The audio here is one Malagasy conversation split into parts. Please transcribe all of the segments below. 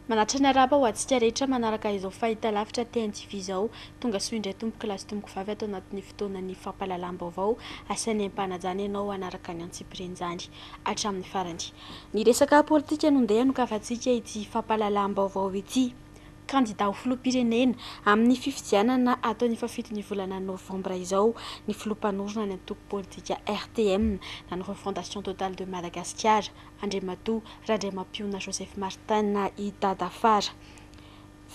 Manatitra ny arahaba ho antsika rehetra manaraka izao fahitalavitra TNTV izao. Tongasoa indray tompokolahy sy tompokovavy ato anatin'ny fotoanan'ny fampahalalam-baovao asain'ny aim-panajana ianao hanaraka ny antsipirian'izany hatramin'ny farany. Ny resaka politika no ndeha hanokavantsika ity fampahalalam-baovao ity. Kandida ho filoham-pirenena amin'ny fifidianana atao ny fahafito ny volana novambra izao ny filoha mpanorina ny antoko politika RTM na ny Refondation Totale de Madagasikara, Andriamatoa Randriamampihona Joseph Martin, i Dada Fara.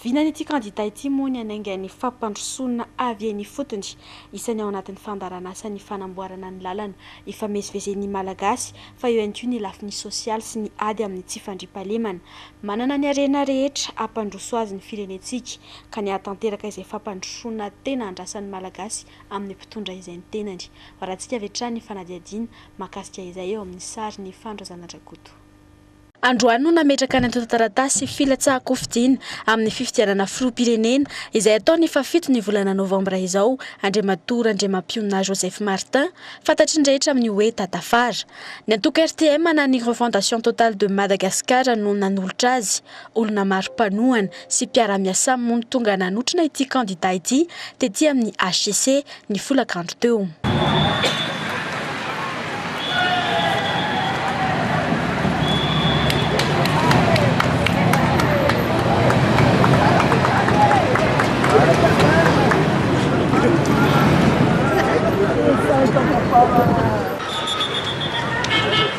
Vinan' ity kandida ity moa ny hanainga ny fampandrosoana avy eny ifotony. Isany ao anatin'ny fandaharanasa ny fanamboarana ny lalana. Ifamezivezen' ny Malagasy fa eo ihany koa ny lafiny sosialy sy ny ady amin'ny tsy fandriampahalemana. Manana ny harena rehetra hampandroso azy ny firenentsika ka ny hahatanteraka izay fampandrosoana tena andrasan'ny Malagasy amin'ny mpitondra izay ny tenany. Varantsika avy hatrany ny fanadihadiana Mahakasika izay eo amin'ny sary ny Fano Razanadrakoto. Androany no nametraka ny antontan-taratasy filatsahan-kofidina amin'ny fifidianana filoham-pirenena izay hatao ny fahafito ny volana novambra izao Andriamatoa Randriamampionona Joseph Martin fantatry ny rehetra amin'ny hoe Tatafara. Ny antoko RTM na ny Refondation Totale de Madagascar no nanolotra azy. Olona maro mpanohana sy mpiara-miasam moa no tonga nanotrona ity kandida ity tety amin'ny HCC ny folakandro teo.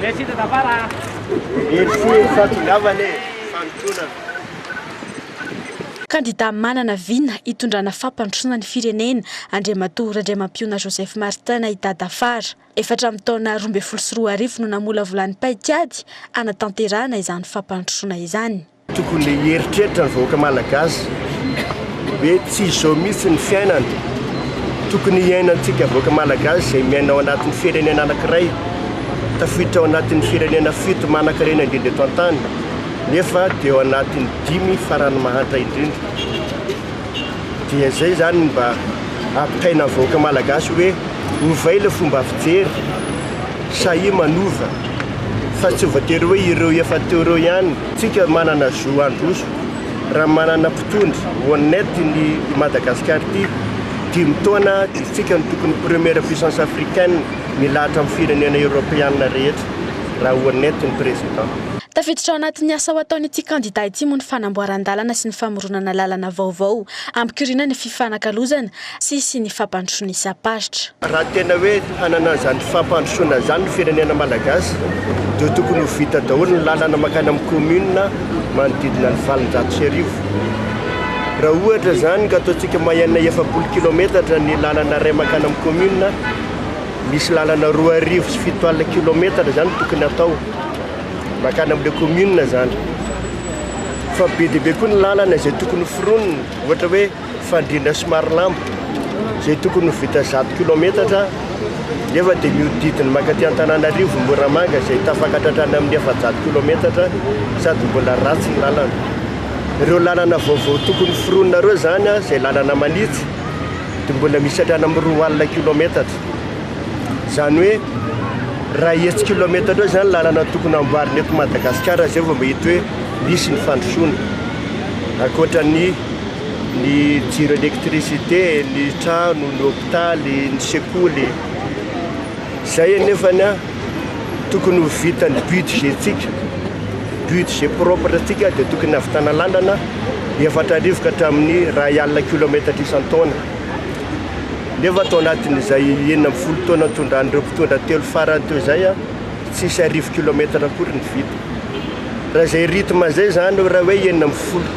Merci de ta part ah. Merci fa tongavana e, fanintonana. Kandida manana vina hitondrana fampandrosoana ny firenena, Andriamatoa Randriamampiona Joseph Martin i Dada Fara. Efa hatramin'ny taona roa ambin'ny folo sy roa arivo no namolavolan'ny paikady hanatanterahana izany fampandrosoana izany. Tokony le hieritreritra ny vahoaka malagasy hoe tsy izao mihitsy ny fiainana tokony hiainantsika vahoaka malagasy izay miaina ao anatin'ny firenena anankiray tafiditra ao anatin'ny firenena fito manankarena indrindra eto an-tany nefa dia ao anatin'ny dimy farany mahantra indrindra dia izay izany mba ampitaina ny vahoaka malagasy hoe ovay le fomba fijery sahia manova fa tsy voatery hoe ireo efa teo ireo ihany Tsika manana zo handroso raha manana mpitondra honnête ny i Madagascar ty, dimy taona dia tsika no tokony première puissance africaine milahatra amin'ny firenena Europeana rehetra raha honnête ny Président. Tafiditra ao anatin'ny asa ho ataon'ity kandida ity moa ny fanamboaran-dalana sy ny famoronana lalana vaovao hampikoriana ny fifanakalozana sy sy ny fampandrosoana isam-paritra. Raha tena hoe hanana izany fampandrosoana izany ny firenena malagasy dia tokony ho vita daholo ny lalana mankany amin'ny commune manodidina ny valonjato sy arivo. Raha ohatra izany ka ataontsika moyenne efapolo kilometatra ny lalana iray mankany amin'ny commune, misy lalana roa arivo sy fito alina kilometatra izany tokony atao mankany amin'ilay commune izany. Fa be dia be koa ny lalana izay tokony foronina, ohatra hoe. fandrindra somary lamba izay tokony ho vita zato kilometatra nefa dia mihodidina mankaty Antananarivo Moramanga izay tafakatra hatrany amin'ny efajato kilometatra sady mbola ratsy ny lalana. Ireo lalana vaovao tokony foronina ireo izany izay lalana manitsy dia mbola misy hatrany amin'ny roa alina kilometatra. Izany hoe raha hetsy kilometatra eo izany lalana tokony hamboarina eto Madagasikara izay vao mahita hoe misy ny fandrosoana. Ankoatra ny ny jiro électricité, ny trano, ny hôpitaly, ny sekoly, izay anefa tokony ho vitan'ny budget-tsika, budget propre antsika dia tokony hahavitana lalana efatra arivo ka hatramin'ny iray alina kilaometatra isan-taona, nefa tao anatin'izay enina ambin'ny folo taona nitondran'ireo mpitondra telo farany teo izay, tsisy arivo kilaometatra akory ny vita. Raha izay rythme izay izany hoe raha hoe enina ambin'ny folo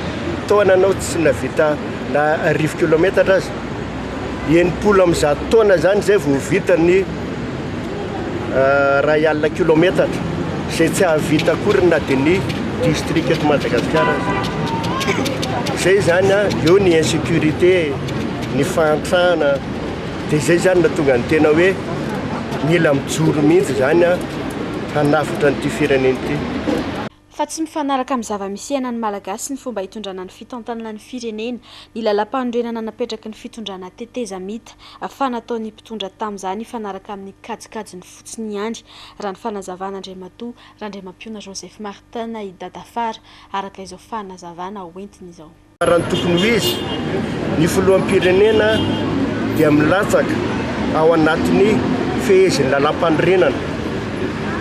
taona ianao tsy nahavita na arivo kilaometatra aza, enimpolo amin'ny zato taona izany izay vao vita ny iray alina kilaometatra, izay tsy hahavita akory na dia ny distrika eto Madagasikara aza. Izay izany an, eo ny insecurité, ny fahantrana, Dia izay izany no nahatonga ny tena hoe mila mijoro mihitsy izany an, hanavotra an'ity firenena ity. Fa tsy mifanaraka amin'ny zava-misy iainan'ny Malagasy ny fomba hitondrana ny fitantanana ny firenena, ny lalam-panorenana napetraky ny fitondrana tetezamita, fa nataon'ny mpitondra tamin'izany hifanaraka amin'ny kajikajiny fotsiny ihany, raha ny fanazavana Andriamatoa Randriamampihona Joseph Martin i Dadafara, araka izao fanazavana hoentiny izao. Raha ny tokony ho izy, ny filoham-pirenena dia milatsaka ao anatin'ny fehezin'ny lalàmpanorenana.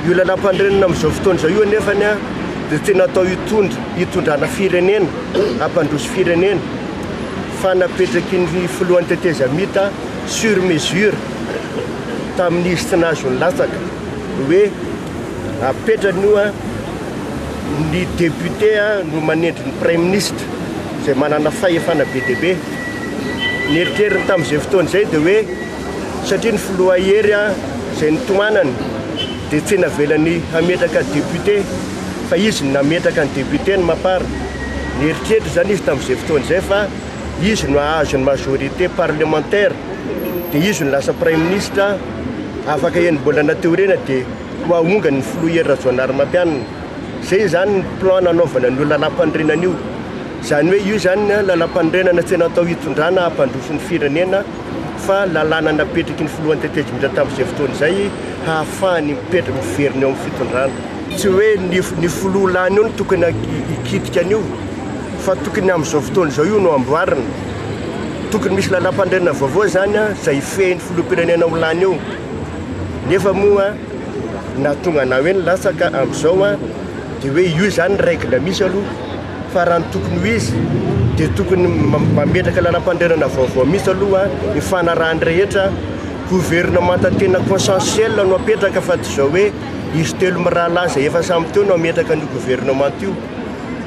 Io lalàmpanorenana amin'izao fotoana izao io anefa dia tsy natao hitondra hitondrana firenena, hampandroso firenena fa napetraky ny filohan'ny tetezamita sur mesure tamin'izy tsy nahazo nilatsaka hoe apetrany io an, ny député an no manendry ny praiminisitra izay manana fahefana be dia be. Ny eritreriny tamin'izay fotoana izay dia hoe satria ny filoha Hery an izay nitohanany dia tsy navelany hametraka député fa izy no nametraka ny député ny Mapar. Nieritreritra izany izy tamin'izay fotoana izay fa izy no hahazo ny majorité parlementaire dia izy no lasa praiminisitra. afaka eny mbola nateo ireny dia ho ahongany ny filoha Hery Rajaonarimampianina. Izay izany ny plan nanaovana an'io lalam-panorenana io. Izany hoe io izany lalam-panorenana tsy natao hitondrana hampandroso ny firenena fa lalàna napetraky ny filoha Andriantejoelina tamin'izay fotoana izay hahafahany mipetraka miverina eo amin'ny fitondrana. Tsy hoe ny filoha lany eo no tokony hikitika an'io fa tokony amin'izao fotoana izao io no amboarina. Tokony misy lalam-pandrenana vaovao izany izay hifehin'ny filoham-pirenena ho lany eo. Nefa moa nahatonga anah hoe nilatsaka amin'izao dia hoe io izany règle misy aloha fa raha ny tokony ho izy dia tokony mametraka lalam-pandrenana vaovao mihitsy aloha hifanarahan'ny rehetra. Gouvernemanta tena consensuel no apetraka fa tsy izao hoe. Izy telo mirahalahy izay efa samy teo no hametraka an'io governemanta io,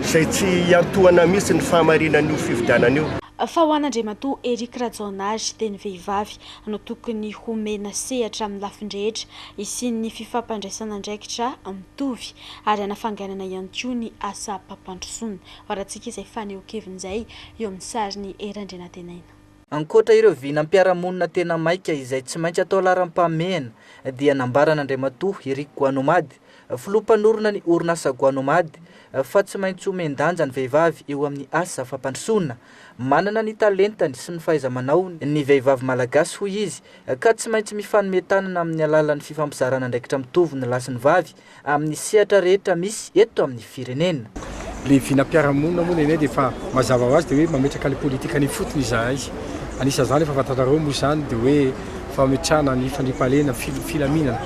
izay tsy hiantohana mihitsy ny fahamarinan'io fifidianana io. Fa ho an'Andriamatoa Eric Rajaonary dia ny vehivavy no tokony homena sehatra amin'ny lafiny rehetra hisian'ny fifampandraisan'andraikitra mitovy ary hanafainganana ihany koa ny asam-pampandrosoana. Varatsika izay fanehoan-keviny izay eo amin'ny sarin'i Hery Andrianantenaina. Ankoatra ireo vinam-piarahamonina tena maika izay tsy maintsy atao laharam-pahamehana dia nambaran'Andriamatoa Eric Guanomad, filoha mpanorina ny orinasa Guanomad, fa tsy maintsy omen-danja ny vehivavy eo amin'ny asa fampandrosoana. Manana ny talentany sy ny fahaiza-manaony ny vehivavy malagasy hoy izy ka tsy maintsy mifanome tanana amin'ny alalan'ny fifampizarana andraikitra mitovy ny lahy sy ny vavy amin'ny sehatra rehetra misy eto amin'ny firenena. Ilay vinam-piarahamonina moa nenay dia efa mazava ho azy dia hoe mametraka ny politikany ifotony izahay. Anisan'izany efa fantatrareo moa izany dia hoe fametrahana ny fandriampahalemana, ny filaminana,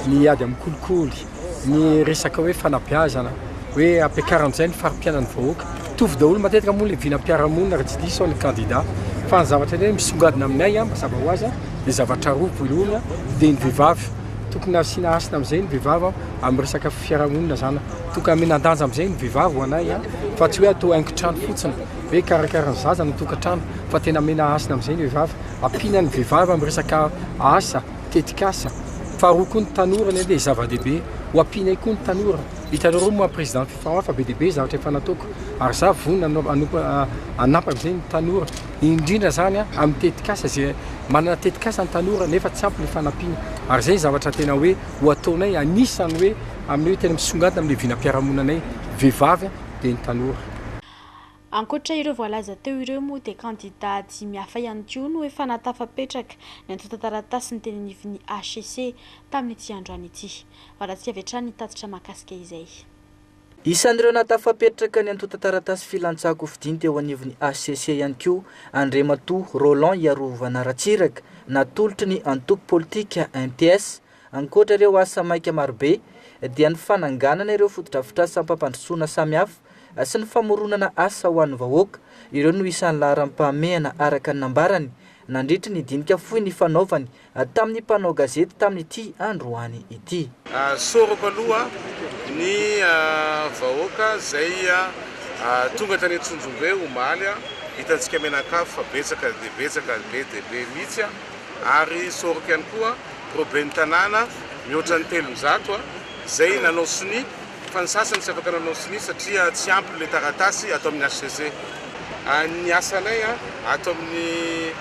ny ady amin'ny kolikoly, ny resaka hoe fanabeazana, hoe ampiakarana amin'izay ny fari-piainan'ny vahoaka. Mitovy daholo matetika moa ilay vinam-piarahamonina raha tsy diso aho ny kandida fa ny zavatra tena hoe misongadina aminay mazava ho azy dia zavatra roa, voalohany dia ny vehivavy. tokony asiana hasina amin'izay ny vehivavy amin'ny resaka fiarahamonina zany tokony amena danja amin'izay ny vehivavy ho anay a fa tsy hoe atao haingon-trano fotsiny hoe karakara ny zaza ny tokantrano fa tena amena hasina amin'izay ny vehivavy ampiana ny vehivavy amin'ny resaka asa tetikasa faharoa koa ny tanora ny dia zava-dehibe ho ampianay koa ny tanora hitanareo moa président fifarafa be dia be zavatra efa nataoko ary za vonona hanao hanao hanampa amin'izay ny tanora indrindra izany amin'ny tetikasa izay manana tetikasa ny tanora nefa tsy ampy ny fanampiana ary izay ny zavatra tena hoe ho ataonay anisany hoe amin'ny hoe tena misongadina amin'ny vinam-piarahamonanay vehivavy dia ny tanora. Ankoatra ireo voalaza teo ireo moa dia kandida dimy hafa ihany koa no efa nahatafapetraka ny antontan-taratasiny teny anivon'ny hcc tamin'ity androany ity. Varatsika avy hatrany ny tatitra mahakasika izay. Isan'ireo nahatafapettraka ny antontan-taratasy filantsahan-kofidiny teo anivon'ny hcc ihany koa Andriamatoa Roland Hiarovana Ratsiraka, natolotry ny antoko politika MPS. Ankoatra ireo asa maika marobe, dia ny fananganana ireo fotodrafitrasam-pampandrosoana samihafa sy ny famoronana asa ho an'ny vahoaka, ireo no isan'ny laharam-pahamehana araka ny nambarany, nandritry ny dinika fohy nifanaovany Tamin'ny mpanao gazety tamin'ity androany ity. Soroko aloha ny vahoaka izay tonga tany Antsonjombe omaly, hitantsika mianakavy fa betsaka dia betsaka, be dia be mihitsy, ary soroko ihany koa ireo ben'ny tanàna mihoatra ny telonjato izay nanao sonia Fa ny sasany tsy afaka nanao sonia satria tsy ampy ilay taratasy ato amin'ny HCC. Ny asanay ato amin'ny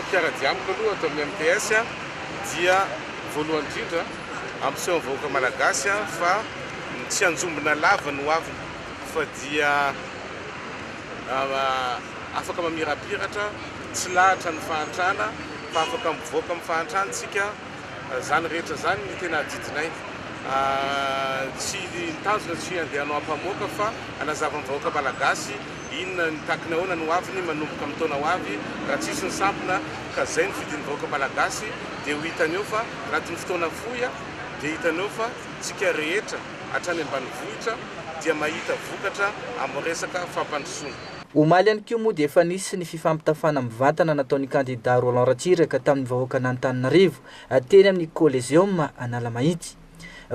mpiara-dia amiko aloha ato amin'ny MTS dia voalohany indrindra hampiseho amin'ny vahoaka malagasy fa tsy anjombona lava ny hoaviny fa dia afaka mamirapiratra, tsy lahatra ny fahantrana fa afaka mivoaka amin'ny fahantrana isika. Zany rehetra zany ny tena adidinay. Tsy mitazona tsy handeha hanao ampamoaka fa hanazava ny vahoaka malagasy inona ny takiny ahoana ny hoaviny manomboka amin'ny taona hoavy raha tsy hisy ny sampona ka zay no fidin'ny vahoaka malagasy dia ho hitany eo fa anatin'ny fotoana fohy dia hitany eo fa tsika rehetra hatrany ambanivohitra dia mahita vokatra amin'ny resaka fampandrosoana Omaly ihany koa moa dia efa nisy ny fifampitafana mivantana nataon'ny kandida Roland Ratsiraka tamin'ny vahoakan'Antananarivo teny amin'ny Coliseum Analamahitsy.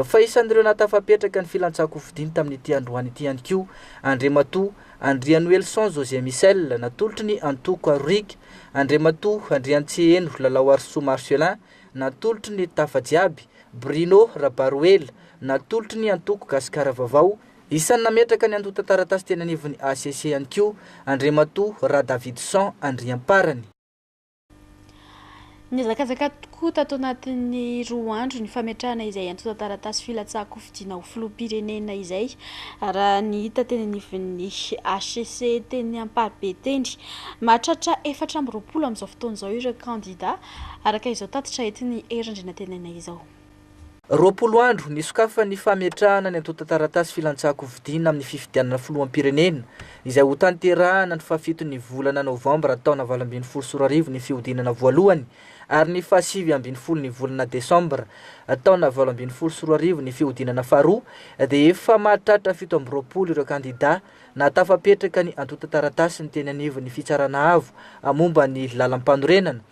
Fa isan'ireo nahatafapetraka ny filantsankofidiny tamin'ity androany ity ihany koa Andriamatoa Andrianoelison José Michel natolotry ny antoko Aroriaka, Andriamatoa Andriantseheno Lalaoarisoa Marcelin natolotry ny Tafa Jiaby, Bruno Rabaroela natolotry ny antoko Gasikara Vaovao, Isan'ny nametraka ny antontan-taratasy teny anivon'ny hcc ihany koa Andriamatoa Radavidson Andriamparany. Nihazakazaka tokoa tato anatin'ny roa andro ny fametrahana izay antontan-taratasy filatsahan-kofidiana ho filoham-pirenena izay, raha ny hita teny anivon'ny hcc teny Amparibe teny. Mahatratra efatra amby roapolo amin'izao fotoana izao ireo kandidà, araka izao tatitra entin'i Hery Andrianantenaina izao. Roapolo andro nisokafan'ny fametrahana ny antontan-taratasy filantsahan-kofidiana amin'ny fifidianana filoham-pirenena, izay hotanterahana ny fahafiton'ny volana novambra taona valo ambin'ny folo sy roa arivo ny fihodinana voalohany ary ny fahasivy ambin'ny folon'ny volana desambra taona valo ambin'ny folo sy roa arivo ny fihodinana faharoa dia efa mahatratra fito amby roapolo ireo kandidà nahatafapetraka ny antontan-taratasiny teny anivon'ny Fitsarana Avo momba ny Lalampanorenana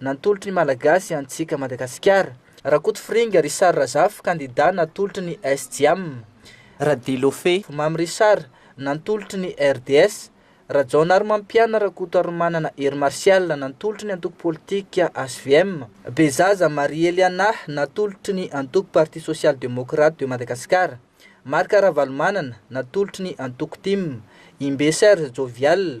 Natolotry ny Malagasy antsika Madagasikara. Rakotofiringa Richard Razafy kandida natolotry ny SJAM. Radilofe Mamy Richard nantolotry ny RDS. Rajaonarimampiana Rakotoarimanana Hery Martial nantolotry ny antoko politika HVM. Bezaza Marie Eliana natolotry ny antoko Parti Social Democrate de Madagascar. Marc Ravalomanana natolotry ny antoko tim. Imbe Serge Jovial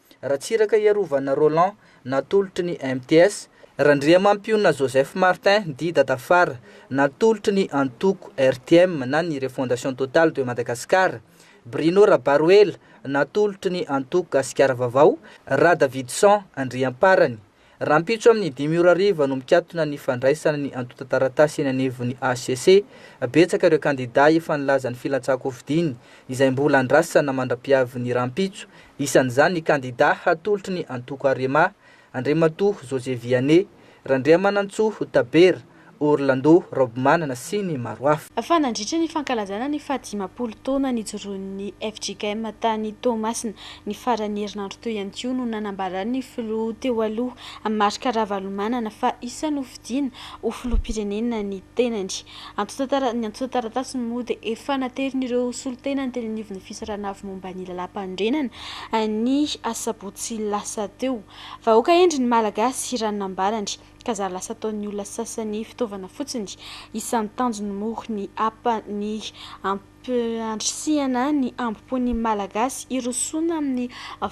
Ratsiraka Iarovana Roland, natolotry ny MTS, Randriamampiona Joseph Martin, dit Dadafara, natolotry ny antoko RTM na ny Refondation Totale de Madagascar, Bruno Rabaroela, natolotry ny antoko Gasikara Vaovao, Radavidson Andriamparany, Rahampitso amin'ny dimy ora hariva no mikatona ny fandraisana ny antontan-taratasy eny anivon'ny hcc. Betsaka ireo kandidà efa nilaza ny filantsakofidiny, izay mbola andrasana mandra-piavin'ny rahampitso. Isan'izany ny kandidà hatolotry ny antoko Arema, Andriamatoa José Vianney Randriamanantsoa Tabera, Orlando Raobimanana sy ny maro hafa. Fa nandritra ny fankalazana ny fahadimampolo taona nijoroan'ny fjkm tany Toamasina, ny faran'ny herinandro teo ihany koa no nanambaran'ny filoha teo aloha, Marc Ravalomanana fa iza no hofidiana ho filoham-pirenena ny tenany. Antontantaran'ny antontan-taratasiny moa dia efa naterin'ireo solontenany teny anivon'ny fisarahana avy momba ny lalàmpanorenana ny asabotsy lasa teo. Vahoaka hendry ny Malagasy, raha ny nambarany. ka za lasa ataon'ny olona sasany fitaovana fotsiny. Isan'ny tanjony moa ny hapa ny hampandrisihana ny hambom-pon'ny Malagasy hirosoana amin'ny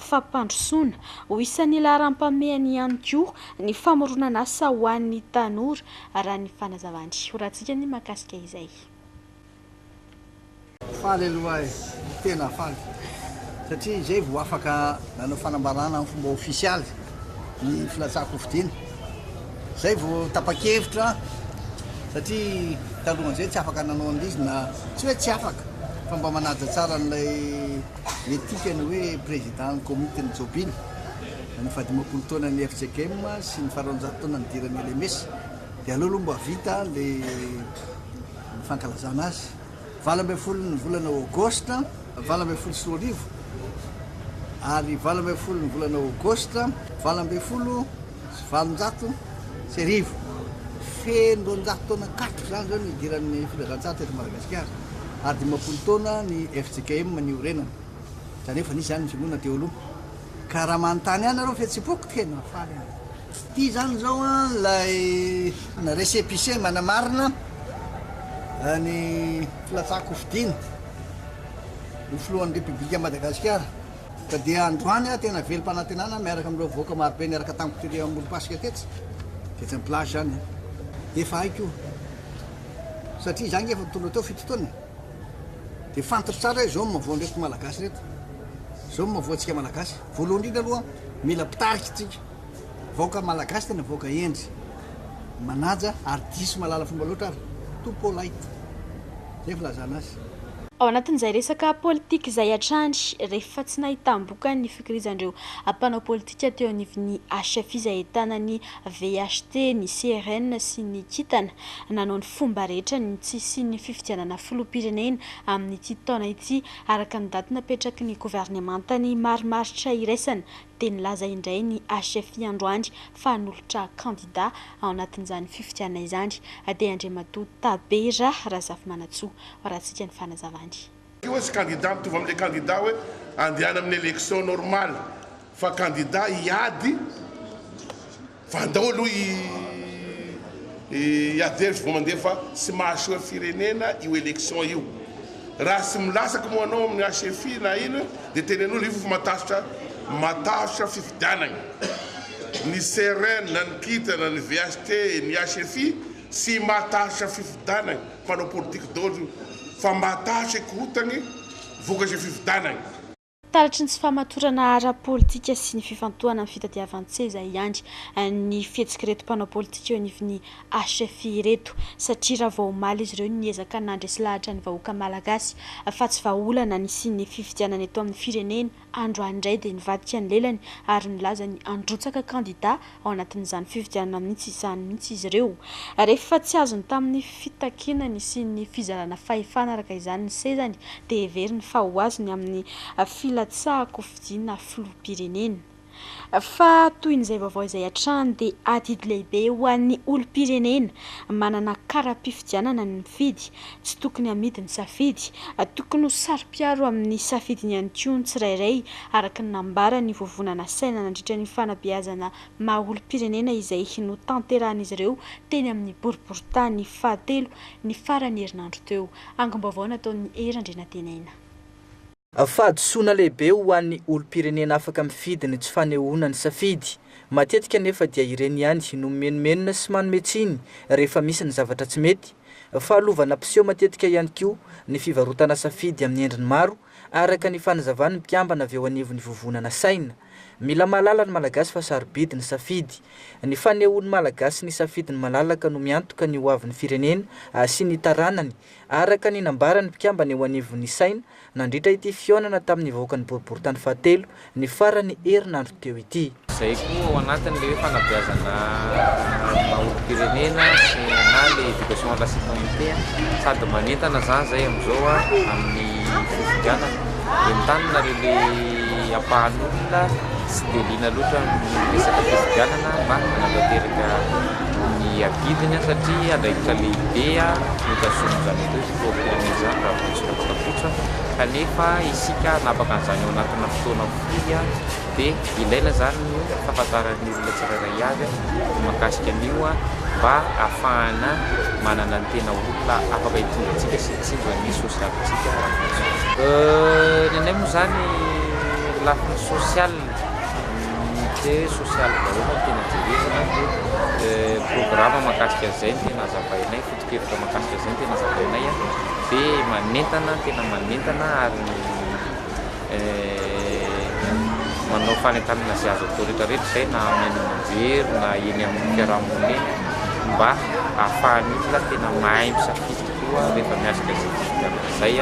fampandrosoana. Ho isan'ny laharam-pahamehany ihany koa ny famoronan'asa ho an'ny tanora, raha ny fanazavany Horatsika ny mahakasika izay. Faly aloha aho e! Tena faly satria izay vao afaka nanao fanambarana amin'ny fomba ofisialy ny filatsahan-kofidina. Izay vao tapa-kevitra satria talohan'izay tsy afaka nanao an'izy na tsy hoe tsy afaka fa mba manaja tsara an'ilay etika ny hoe Prezidan'ny Komitin'ny Jobily ny fahadimampolo taonan'ny FJKM sy ny fararoanjato taona nidiran'ny LMS dia aleo aloha mba vita ilay ny fankalazana azy, valo ambin'ny folo ny volana Aogositra valo ambin'ny folo sy roa arivo ary valo ambin'ny folo ny volana Aogositra valo ambin'ny folo sy valonjato sy arivo. Feno roanjato taona katroka izany izao ny hidiran'ny filazantsaha teto Madagasikara ary dimampolo taona ny fjkm niorenany, izany hoe efa nisy izany ny finoana teo aloha. Ka raha manontany ahy nareo fihetsepoako tena mahafaly ahy. Tsy tia zany zao an lay récépissé manamarina ny filatsahako hofidiana ho filohan'ny Repoblikan'i Madagasikara. Ka dia androany aho tena velom-panantenana miaraka amin'ireo vahoaka marobe niaraka tamiko tery amorom-pasika tetsy, tetsy amin'ny plage zany an. Efa hay koa satria izaho ange efa nitondra teo fito taona e. dia fantatro tsara izao no mahavoa an'ireto Malagasy ireto, izao no mahavoa antsika Malagasy, voalohany indrindra aloha mila mpitarika isika, vahoaka Malagasy tena vahoaka hendry, manaja ary diso mahalala fomba loatra ary too polite, izay filazana azy. Ao anatin'izay resaka politika izay hatrany, rehefa tsy nahitam-bokany ny fikirizan'ireo mpanao politika teo anivon'ny HFI izay ahitana ny VHT, ny CRN sy ny kintana nanao ny fomba rehetra ny tsy hisian'ny fifidianana filoham-pirenena amin'ity taona ity araka ny daty napetraky ny governemanta ny marimaritra iraisana dia nilaza indray ny HFI androany fa hanolotra kandida ao anatin'izany fifidianana izany dia Andriamatoa Tabera Razafimanantsoa raha tsika ny fanazavany. Io hoe tsy kandida mitovy amin'ilay kandida hoe andehana amin'ny élection normale fa kandida hiady fa andao aloha hiady hevitra vao mandeha fa tsy mahasoa firenena io élection io. Raha tsy milasak moa anao amin'ny HFI na ino dia tenenolo io fa matahotra matahotra fifidianagna. Ny CRN na ny kintana ny VHT ny HFI tsy matahotra fifidanagna. Mpanao politika daholo io fa mba ta hase korontany vokatry ny fifidanany. Taratry ny tsy fahamatorana ara-politika sy ny fifantohana amin'ny fitadiavan-tseza ihany ny fihetsik'ireto mpanao politika eo anivon'ny HFI ireto satria raha vao omaly izy ireo niezaka nandresy lahatra ny vahoaka malagasy fa tsy vahaolana nisian'ny fifidianana eto amin'ny firenena Androany indray dia nivadika ny lelany ary nilaza ny handrotsaka kandida ao anatin'izany fifidianana mihitsy izany mihitsy izy ireo. Rehefa tsy azony tamin'ny fitakiana nisian'ny fizarana fahefana araka izany ny sezany dia heveriny fa ho azony amin'ny filatsahan-kofidiana filoham-pirenena. Fa toy izay vaovao izay hatrany dia adidy lehibe ho an'ny olom-pirenena manana kara-pifidianana ny mifidy Tsy tokony hamidy ny safidy. Tokony ho saro-piaro amin'ny safidiny ihany koa ny tsirairay, araka ny nambaran'ny Vovonana Saina nandritra ny fanabeazana maha olom-pirenena izay notanterahin'izy ireo teny amin'ny boriborintany fahatelo ny faran'ny herinandro teo. Angom-baovao nataon'i Hery Andrianantenaina. Fahadisoana lehibe ho an'ny olom-pirenena afaka mifidy ny tsy fanehoana ny safidy. Matetika anefa dia ireny ihany no mimenomenona sy manome tsiny rehefa misy ny zavatra tsy mety. Fahalovana mpiseho matetika ihany koa ny fivarotana safidy amin'ny endriny maro, araka ny fanazavan'ny mpikambana avy eo anivon'ny Vovonana Saina. Mila mahalala ny Malagasy fa sarobidy ny safidy. Ny fanehoan'ny Malagasy ny safidiny malalaka no miantoka ny hoavin'ny firenena sy ny taranany Araka ny nambaran'ny mpikambana eo anivon'ny Isaina, nandritra ity fihaonana tamin'ny vahoakan'ny boriborintany fahatelo, ny faran'ny herinandro teo ity. Izay koa ao anatin'ilay fanabeazana maha-olom-pirenena sy na ilay éducation à la citoyenneté, sady manentana izany izay amin'izao amin'ny fifidianana. Entaniny nareo ilay ampahan'olona tsy dia liana loatra amin'ny resaka fifidianana mba hanatanteraka. ny adidiny satria andraikitra lehibe no tazomin'izany atao hoe sport firenena izany raha vao resaka fatafototra kanefa isika hanapaka an'izany ao anatina fotoana fohy dia ilaina izany ny fahafantaran'ny olona tsirairay avy ny mahakasika an'io mba hahafahana manana ny tena olona afaka hitondra antsika sy hitsinjo ny sosialintsika raha vao misy ny anay moa izany lafiny sosialina Unité sosialy vahoaka no tena jerena dia programa mahakasika an'izay no tena azavainay, foto-kevitra mahakasika an'izay no tena azavainay dia manentana ny tena manentana ary manao fanentanana izay azo atao rehetra rehetra izay na amin'ny haino aman-jery na eny amin'ny fiaraha-monina eny mba hahafahan'ny olona tena mahay misafidy. koa rehefa miatrika izay district amiko izay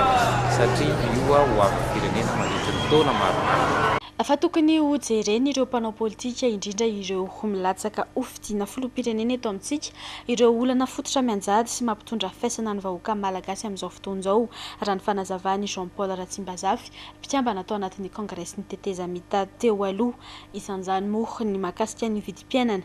satria io ho avin'ny firenena mandritry ny taona maromaro. Fa tokony ho jeren ireo mpanao politika indrindra ireo ho milatsaka ho fidina filoham-pirenena eto amintsika ireo olana fototra mianjady sy mampitondra faisana ny vahoaka malagasy amin'izao fotoan'izao raha ny fanazavan'i Jean Paul Ratsimbazafy mpikambana tao anatin'ny kongresin'ny tetezamita teo aloha isan'izany moa ny mahakasika ny vidim-piainana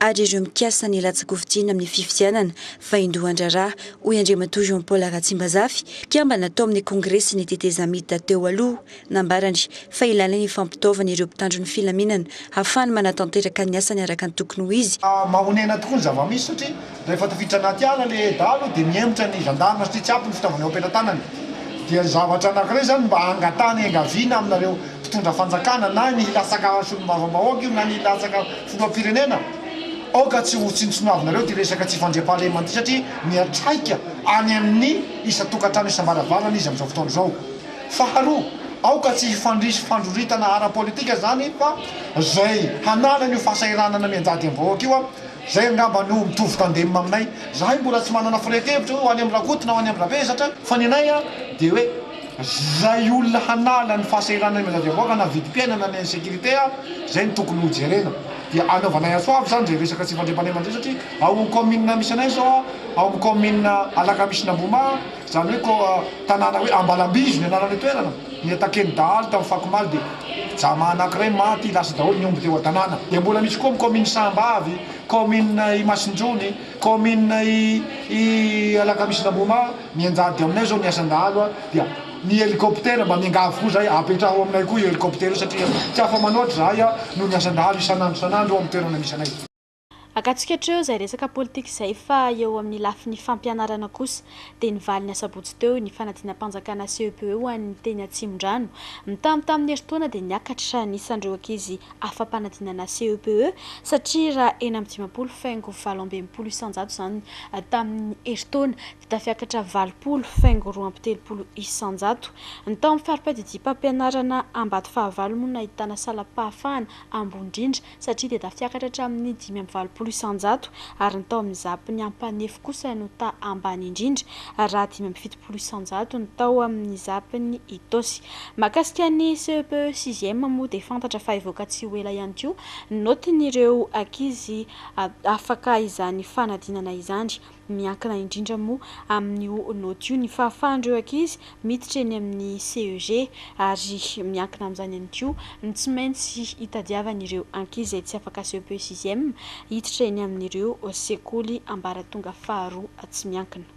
ary ireo mikasa ny latsa-kofidiana amin'ny fifidianana vaindohan-draharaha, hoy Andriamatoa Jean Paul Ratsimbazafy, mpikambana tao amin'ny kongresin'ny tetezamita teo aloha. Nambarany fa ilaina ny fampitaovana ireo mpitandro ny filaminana hahafahany manatanteraka ny asany araka ny tokony ho izy. Mahonena tokoa ny zava-misy satria rehefa tafiditra anaty ala le dahalo dia mihemotra ny gendarme satria tsy ampy ny fitaovana eo am-pelatanany. Dia zavatra anankiray izany mba angatahana enga vina aminareo mpitondra fanjakana na ny latsaka solombavambahoaka io na ny latsaka filoham-pirenena, aoka tsy ho tsinontsinoavinareo ity resaka tsy fandriampahalemana ity satria miantraika any amin'ny isan-tokantrano isam-baravarana izy amin'izao fotoana izao. Faharoa, aoka tsy hifandrisy fandroritana ara-politika izany fa izay hananana io fahasahiranana mianjady amin'ny vahoaka io, izay angamba no mitovy tandem aminay. Izahay mbola tsy manana firehefevitra hoe ho any amin'i Rakoto na ho any amin'i Ravesatra. Fa ny anay dia hoe. Izay olona hanala ny fahasahiranan'ny manjadiam-bahoaka na vidim-piainana na insécurité izay no tokony ho jerena dia any Anovanay Antsoavo izany izay resaka tsy fandriampahalemana izay satria ao amin'ny kaominina misy anay izao ao amin'ny kaominina Alakamisin'Ambohimaha izany hoe tanàna hoe Ambalambizo ny anaran'ilay toerana ny attaquer-n'ny dahalo tamin'ny fako omaly dia Jama anankiray maty lasa daholo ny omby teo an-tanàna dia mbola misy koa amin'ny kaominina Sahambavy kaominina Imasinjony kaominina i Alakamisin'Ambohimaha Mianjady aminay zao ny asan-dahalo dia ny helicoptère mba miangavy koa zahay apetraho aminay koa io helicoptère io satria tsy afa-manoatra zahay noho ny asan-dahalo isan'andro isan'andro eo amin'ny toerana misy anay. Akatsika hatreo izay resaka politika izay fa eo amin'ny lafiny fampianarana kosa dia ny valin'ny asabotsy teo ny fanadinam-panjakana CEPE ho an'ny teny Atsimondrano, mitamby tamin'ny herintaona dia niakatra ny isan'ireo ankizy afa-panadinana CEPE satria raha enina amby dimampolo faingo valo amby enimpolo isan-jato izany tamin'ny herintaona dia tafiakatra valopolo faingo roa amby telopolo isan-jato ny tao amin'ny farimpadidiam-pampianarana Ambatofahavalo moa no nahitana salam-pahafahana ambony indrindra satria dia tafiakatra hatramin'ny dimy amby valopolo isan-jato ary ny tao amin'ny zapin'ny Ampanefy kosa no taha ambany indrindra raha dimy amby fitopolo telopolo isan-jatony tao amin'ny zapin'i Itaosy. Mahakasika ny CEP sixième moa dia fantatra fa hivoaka tsy ho ela ihany koa ny naotin'ireo ankizy afaka izany fanadinana izany. Miankina indrindra moa amin'io naoty io ny fahafahan'ireo ankizy miditra eny amin'ny CEG ary miankina amin'izany ihany koa ny tsy maintsy hitadiavan'ireo ankizy izay tsy afaka CEP sixième hiditra eny amin'ireo sekoly ambaratonga faharoa tsy miankina.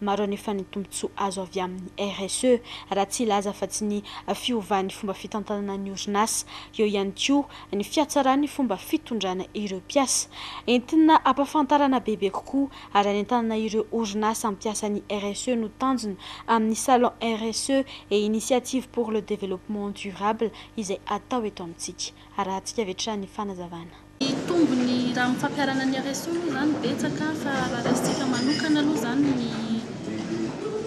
Maro anefa ny tombontsoa azo avy amin'ny RSE, raha tsy hilaza afa-tsy ny fiovan'ny fomba fitantanana ny orinasa. Eo ihany koa ny fihatsaran'ny fomba fitondrana ireo mpiasa. Entina hampafantarana bebe kokoa ary hanentanana ireo orinasa hampiasa ny RSE no tanjona amin'ny Salon RSE et Initiatives pour le Développement Durable izay atao eto amintsika. Arahantsika avy hatrany ny fanazavana. Ny tombony raha amin'ny fampiharana ny RSO moa izany betsaka fa raha raisintsika manokana aloha izany ny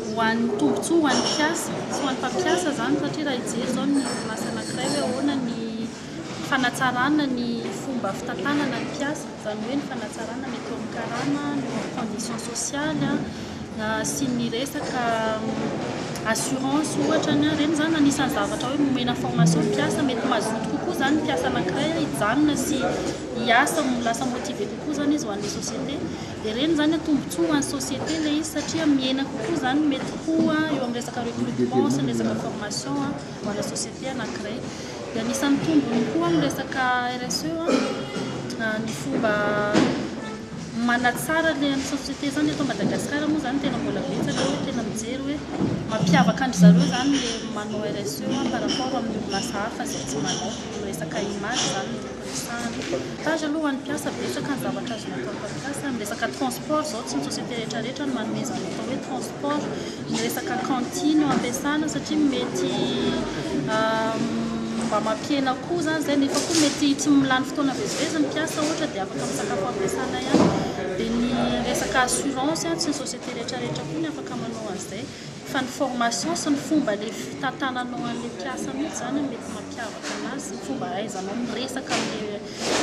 ho an'ny tombontsoa ho an'ny mpiasa sy ho an'ny mpampiasa izany satria raha hijery izao ny orinasa anankiray hoe ahoana ny fanatsarana ny fomba fitantanana ny mpiasa, izany hoe ny fanatsarana ny eo amin'ny karama, ny eo amin'ny condition sociale a. sy ny resaka assurance ohatra ny ireny izany anisan'ny zavatra hoe nomena formation ny mpiasa mety mazoto kokoa izany ny mpiasa anankiray hijanona sy hiasa no lasa motivé kokoa izany izy ho an'ilay société dia ireny izany no tombontsoa ho an'ny société ilay izy satria mihena kokoa izany ny mety ho eo amin'ny resaka recrutement sy ny resaka formation ho ana société anankiray dia anisan'ny tombony koa ny resaka RSE ny fomba Manatsara le an'ny société zany eto Madagascar moa zany tena mbola betsaka hoe tena mijery hoe mampiavaka an-dry zareo zany le manao RSE par rapport amin'ny orinasa hafa izay tsy manao, ny resaka image zany no tiako resahana. Stage aloha ho an'ny mpiasa betsaka ny zavatra azonao atao mpampiasa, ny resaka transport zao tsy ny société rehetra rehetra no manomezana atao hoe transport. Ny resaka cantine no ampiasana satria mety mba mampihena koa izany izay nefa koa mety tsy milany fotoana vezivezy ny mpiasa ohatra dia afaka misakafo ampiasana ihany. Dia ny resaka assurance tsy ny société rehetrarehetra koa ny afaka manao an'izay fa ny formation sy ny fomba le fitantananao an'ilay mpiasa mihitsy izany no mety mampiavaka anazy sy ny fomba ahaizanao miresaka amin'ilay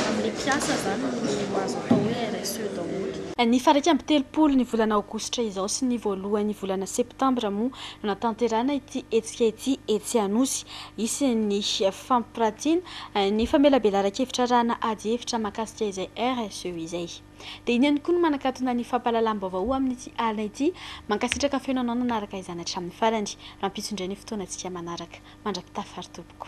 Amin'ny mpiasa izany no azo atao hoe RSE daholo. Ny faraika amby telopolo ny volana aogositra izao sy ny voalohan'ny volana septambra moa no natanterahana ity hetsika ity etsy Anosy. Hisy ny fampiratiana ny famelabelaran-kevitra arahana ady hevitra mahakasika izay RSE izay. Dia iny ihany koa no manakatona ny fampahalalam-baovao ho amin'ity alina ity. Mankasitraka feno anao nanaraka izany hatramin'ny farany. Rampitso indray ny fotoanantsika manaraka. Mandra-pitafa ry tompoko.